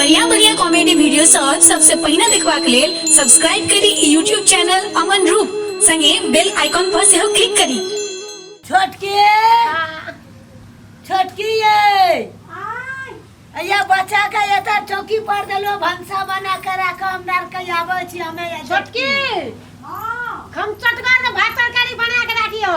बढ़िया बढ़िया comedy video सब सबसे पहिने देखबाक लेल सब्सक्राइब करी ई यूट्यूब चैनल अमन रूप संगे बेल आइकॉन पर सेहो क्लिक करी छोटकी छोटकी ये अया बच्चा के एता चौकी पर देलो भंसा बना के राख हम डार के आबै छी हमे छोटकी हम चटगर भात तरकारी बना के राखियो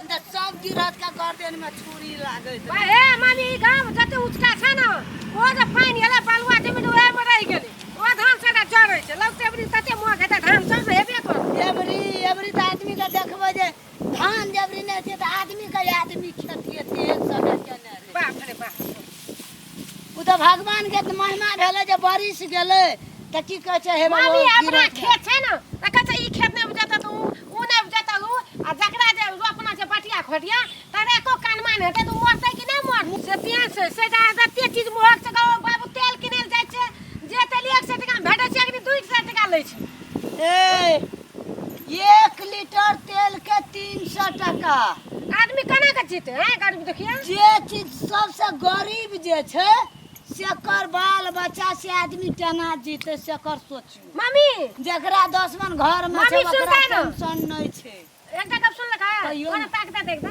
सब गिरहत का गर्दन में छुरी लागत बा हे मामी ई गांव में जते उचका छै ना ओ जे पानि एले बालुआ जमीन ओहे में रहि गेलै ओ धान सदा जड़ै छै लगते एबरी तते मोह हेतै धान सब ने हेबे करतै एबरी एबरी तऽ आदमी के देखबै जे धान जबरी नहि छै तऽ आदमी के आदमी खेती हेतै एक समय केने रहै बाप रे बाप ओ तऽ भगवान के तऽ महिमा भेलै जे बारिश गेलै तऽ की कहै छै हे मम्मी बाबा, अपना गिरत खेत छै ने तऽ कहै छै ई खेत नहि उपजतै तऽ ऊ ऊ नहि उपजतै ऊ आ जकरा जे रोपना छै बटिया खोटिया तकरा एको कानमा नहि हेतै तऽ ऊ मरतै कि नहि मरतै से तें छै से जे अहाँ जतेक चीज महग छै कहबै बाबू तेल किनै लए जाइ छै जे तेल एक सए टाकामे भेटै छै अखनी दू सए टाका लै छै छै। ए एक लीटर तेल के तीन सौ टका आदमी केना के जीते हैं गरीब देखिए जे चीज सबसे गरीब जे छै सेकर बाल बच्चा से आदमी केना जीते सेकर सोचू मम्मी जकरा दस मन घर में छै मम्मी, सुन ओकरा तारा। टेंशन नहीं छै एकटा गप सुन लगा कहियो ने। ताकता देखता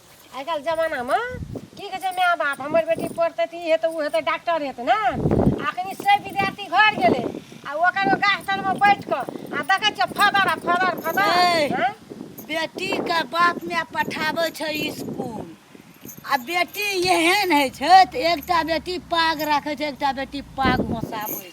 आइ काल्हि जमानामे की कहै छै माय बाप हमर बेटी पढ़तै तऽ ई हेतै ओ हेतै डॉक्टर हेतै ने अखनी से विद्यार्थी घर गेलै आ ओकर गाछ तरमे बैठ कऽ आ देखै छियै फदर आ फदर फदर छै। हँ? बेटी के बाप माय पठाबै छै स्कूल आ बेटी एहन होइ छै तऽ एकटा बेटी पाग राखै छै एकटा बेटी पाग घोसाबै छै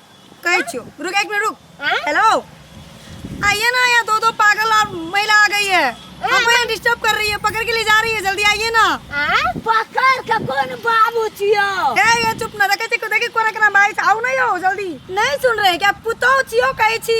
कहै छियो रुक एक मिनट रुक हाँ? हेलो आइए ना यहाँ दो दो पागल और महिला आ गई है हाँ, हमको यहाँ डिस्टर्ब कर रही है पकड़ के ले जा रही है जल्दी आइए ना हाँ? पकड़ के कौन बाबू छियो ए ये चुप ना देखे को देखे कोरा करा भाई आओ ना यो जल्दी नहीं सुन रहे क्या पुतो छियो कहै छी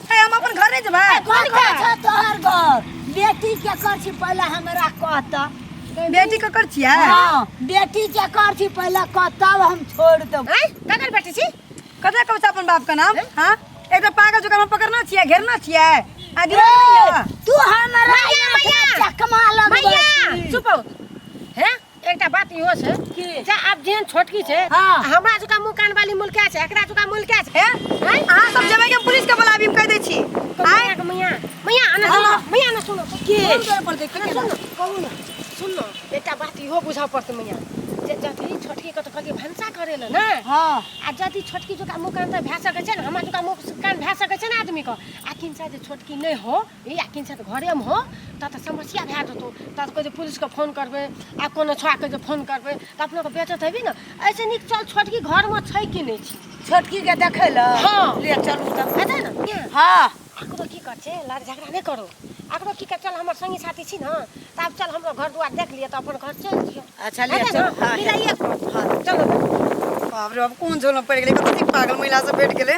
ए, हम अपन घर नहीं जेबै कोन घर छ तोहर घर बेटी के कर छी पहले हमरा कहत बेटी के कर छियै हां बेटी के कर छी पहले कहत तब हम छोड़ देब हैं ककर बेटी छी कतऽ कहै छै अपन बाप के नाम हां एकटा पागल जोकर हम पकड़ना छियै घेरना छियै आ दिमाग नहीं है तू हमरा मैया, मैया। चकमा लगबै मैया छी। चुप हो हैं एकटा बात इहो छै कि जे आब जेहन छोटकी छै हाँ। हमरा जका मुंह कान वाली मुलका छै एकरा जका मुलका छै हैं? अहाँ सब जेबै कि हम पुलिस के बुलाबी हम कहि दै छी तो मियाँ के मियाँ मियाँ आना सुनो हाँ। मियाँ आना सुनो के आना सुनो कहू ना सुनो एकटा बात इहो बुझऽ पड़तै मियाँ जे जथी छोटकी के तो कहलियै भनसा करे ले ने हाँ आ जथी छोटकी जका मुंह कान तऽ भए सकै छै ने हमरा जका मुंह कान भए सकै छै ने आदमी के आ किन जे छोटकी नहि हो भैया किन छथि घरेमे हो ता तऽ समस्या भए जेतौ ता तऽ कहै छै पुलिसके फोन करबै आ कोनो छौआके जे फोन करबै तऽ अपनाके बेचत हेबी ने ऐसे नीक चल छोटकी घरमे छै कि नहि छै छोटकीके देखै लए हँ ले चलू तब हेतै ने के? हँ एकरो की कहै छै लड़ झगड़ा नहि करू एकरो की कहै चल हमर संगी साथी छी ने तऽ आब चल हमरो घर दुआर देख लिअ तऽ अपन घर चलि जियौ अच्छा ले हेतै ने चलू हँ बिलाइए हँ चलो बाप रे बाप कोन झोलमे पड़ि गेलै कतेक पागल महिला सब भेट गेलै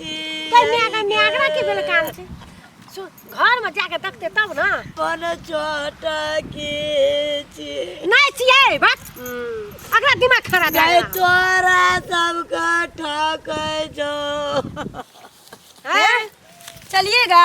कन्या का न्यागरा के बेल काम छै सु- घर में जाके देखते तब ना अपन चोट के छी नहीं छिए बात अगला दिमाग खराब है गए तोरा सबके ठकै छौ हैं? चलिएगा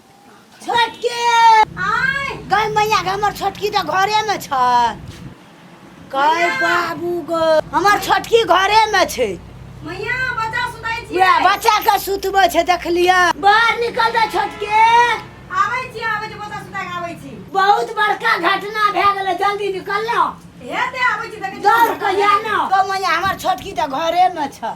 छोटकी आय गै मैया के हमर छोटकी तऽ घरे में छै गै बाबू गो हमर छोटकी घरे में छै मैया बच्चा सुतै छी वएह बच्चा के सुतबै छै देखलियै बाहर निकल जा छोटकी आबै छी आबै छी बच्चा सुता के आबै छी बहुत बड़का घटना भए गेलै जल्दी निकल ना हेते आबै छी देखै छी दौड़ के या ना गै मैया हमर छोटकी तऽ घरे में छै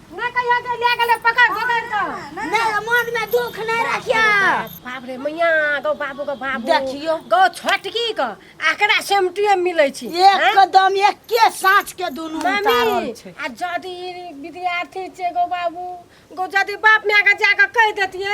ना कहियो जे ले गेले पकड़ पकड़ के नहीं मन में दुख नहीं रखिया बाप रे मैया गौ बाबू के बाबू देखियो। गौ छोटकी के आकरा सेमटिए मिलै छी हैं? एकदम एके साँच के दुनू उतारल मामी छै आ जदि विद्यार्थी छै गो बाबू गो जदि बाप माय के जाके कह देतिए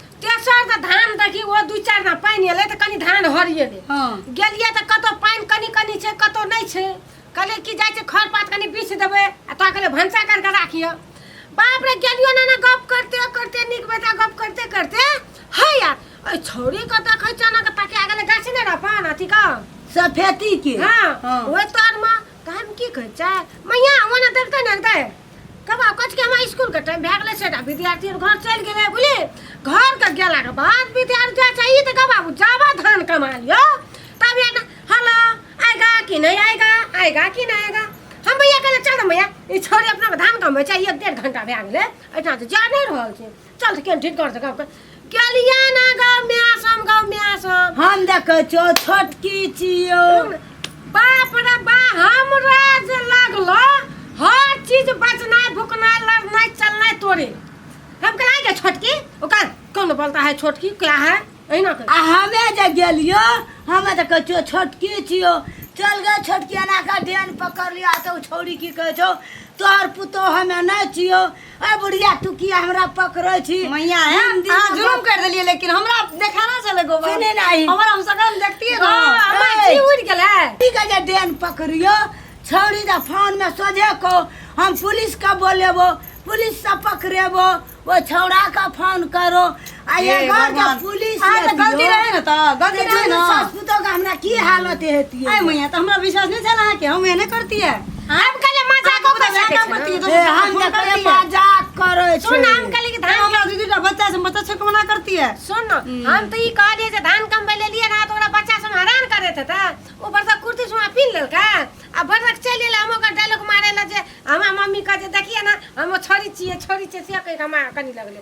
तेसर तऽ धान देखी ओ दू चारि ना पानि एलै तऽ कनि धान हरिएलै हँ गेलियै तऽ कतौ पानि कनि कनि छै कतौ नहि छै कहलियै कि जाइ छै खर पात कनि बीछ देबै आ तोरा कहलियै भनसा करि कऽ राखिह बाप रे गेलियो ना ना गप करते करते नीक बेटा गप करते करते है यार एहि छौड़ीके देखै छियै ने ताकि आ गेलै गाछी नहि रहऽ अपन अथीके सफेती के हँ हाँ। ओहि तरमे तऽ हम की कहै छै मैया ओना देखतै ने देखतै कबा कच के हमरा स्कूल के टाइम भए गेलै से टा विद्यार्थी घर चलि गेलै बुझली घर के गेला के बाद विद्यार्थी जाइ छै ई तऽ का बाबू जाबा धान कमा लियो तब ये हला आएगा कि नहीं आएगा आएगा कि नहीं आएगा हम भैया कहले चल मैया ई छोरी अपना के धान कमबै छै एक डेढ़ घंटा भए गेलै एहिठाम तऽ जा नहि रहल छै चल तऽ केहन ठीक कर सक गाँव गेलियै ना गाँव में आसम गाँव में आसम हम देखै छौ छोटकी छियौ बाप रे बा हमरा जे लागलो हर चीज बचनाइ भुकनाइ लड़नाइ चलनाइ तोरे हम कहा गए छोटकी ओकर कौन बोलता है छोटकी क्या है अहिना कर आ हमे जे गेलियो हमे तऽ कहै छियौ छोटकी छियौ चल गए छोटकी एना कऽ डेन पकड़ लिया तऽ ओ छौरी की कहै छौ तोहर पुतोह हमे नहि छियौ ए बुढ़िया तू किया हमरा पकड़ै छी मैया है हिंदी अहाँ में जुलूम कर देलिए लेकिन हमरा देखाना छले गोबर सुने नाही। हमर हम सकम देखतिए ना हाँ, हमरा ए। जी उड़ गेल है की के जे डेन पकड़ियो छौरी दा फोन में सोझे को हम पुलिस के बोलेबो पुलिस से पकड़ेबो वो छौड़ा का फोन करो आ ये हे घर के भगवान। पुलिस हाँ, तो गलती रहे ना तो, गलती रहे ना। ससुतो के हमरा की हालत हेती आय मैया तो हमरा विश्वास नहीं चला है कि हम एने करती है हम कहले मजाक हम कर मजाक सकै करती छै है, तो हम मजाक देखले करती है। मजाक करे छै सुन हम कहले कि धान धान हमरा दीदी का बच्चा से बच्चा छक मना करती है सुन न, हम तो ई कह दिए जे धान कम ले लिए ना तो ओकरा बच्चा सब हैरान करे थे ता ऊपर से कुर्ती सुमा पीन लेलका आ भरक चल एला हम ओकर डायलॉग मारे ला जे हमरा मम्मी कह जे देखिए ना हम छोरी छिए छोरी छिए से कह के हमरा कनी लगले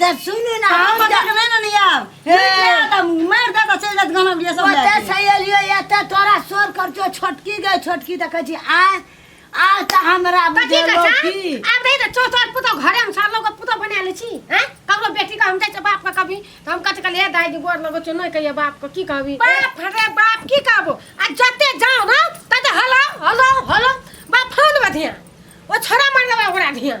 तब सुनू ना हम हम जा- नहीं ना नहीं आब हे। दादा मार दादा चल जात गाना बिया सब ओते लए छै एलियो एते तोरा शोर कर जो छोटकी गए छोटकी त कहै छी आ आ त हमरा कथी बुझे कहै लोग छै की आब रही त चो तोर पुतो घरे में सालो के पुतो बना ले छी हैं ककरो बेटी का हम जाय छै बाप का कभी त हम कथि कहलिए दाई के गोर लगो छै नहीं कहिए बाप को की कहबी बाप रे बाप की कहबो आ जते जाओ ना तते हलो हलो हलो बाप फोन में धिया ओ छोरा मार देबा ओकरा धिया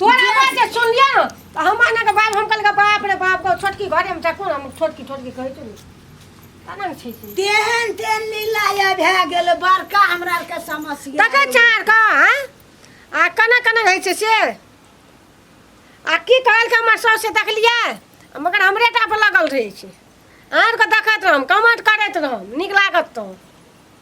तोरा बात जे सुनलिए न तऽ हम आना के बाप हम कल के बाप रे बाप को छोटकी घरे में चकू हम छोटकी छोटकी कहै छै तना न छै से तेहन तेहन लीला या भए गेल बड़का हमरा आर के समस्या तकै चार का हैं आ कना कना रहै छै से आ की कहल के हमर सास से देखलिए मगर हमरे टा पर लगल रहै छै आर के देखत रहम कमेंट करैत रहम नीक लागत तो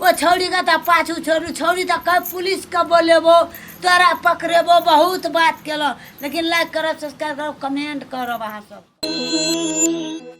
ओ छौड़ीके तऽ पाछू छोड़ू छौड़ी तऽ कब पुलिसके बोलेबो तोरा पकड़ेबो बहुत बात केलहुँ लेकिन लाइक करब सब्सक्राइब करब कमेंट करब अहाँ सब